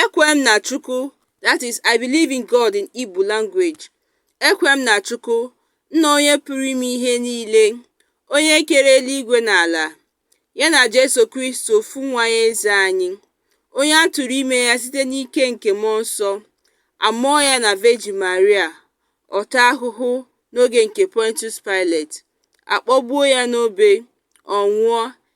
Ekwere m na Chukwu that is I believe in God in Igbo language. Ekwere m na Chukwu, Nna onye pụrụ ime ihe niile, onye kere eluigwe na ala, ya na Jesu Kristi ofu nwa ya eze anyị, onye a tụrụ ime ya site n'ike nke Mmụọ Nsọ, a mụọ ya na Virgin Maria, ọ taa ahụhụ n'oge nke Pontius Pilate, a kpọgbuo ya n'obe, ọ nwụọ,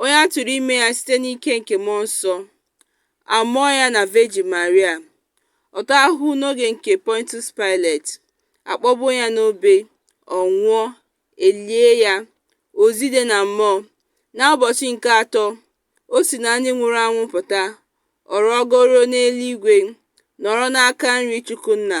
onye a tụrụ ime ya site n'ike nke mmụọ nsọ, a mụọ ya na Virgin Maria, ọ taa ahụhụ n'oge nke Pontius Pilate, a kpọgbuo ya n'obe, ọ nwụọ, e lie ya, o zide na mmụọ. N'ụbọchị nke atọ, o si na ndị nwụrụ anwụ pụta, ọ rọgoro n'eluigwe, nọrọ n'aka nri Chukwu Nna.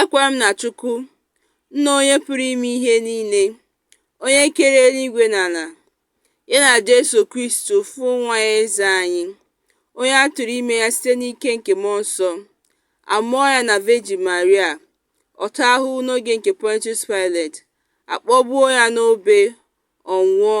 Ekwere m na Chukwu, Nna Onye Pụrụ Ime Ihe Niile, Onye kere eluigwe na ala, ya na Jesu Kristi ofu nwa ya eze anyị, onye a tụrụ ime ya site n'ike nke mmụọ nsọ, a mụọ ya na Virgin Maria, ọ taa ahụhụ n'oge nke Pontius Pilate, a kpọgbuo ya n'obe, ọ nwụọ,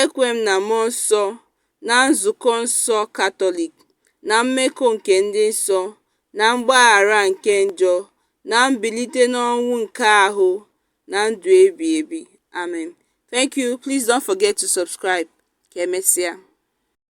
Ekwere m na Mmụọ Nsọ, na Nzukọ nsọ Katọlik, na mmekọ nke ndị nsọ, na mgbaghara nke njọ, na mbilite n'ọnwụ nke ahụ, na ndụ ebi ebi. Amen. Thank you. Please don't forget to subscribe. Ka emesịa.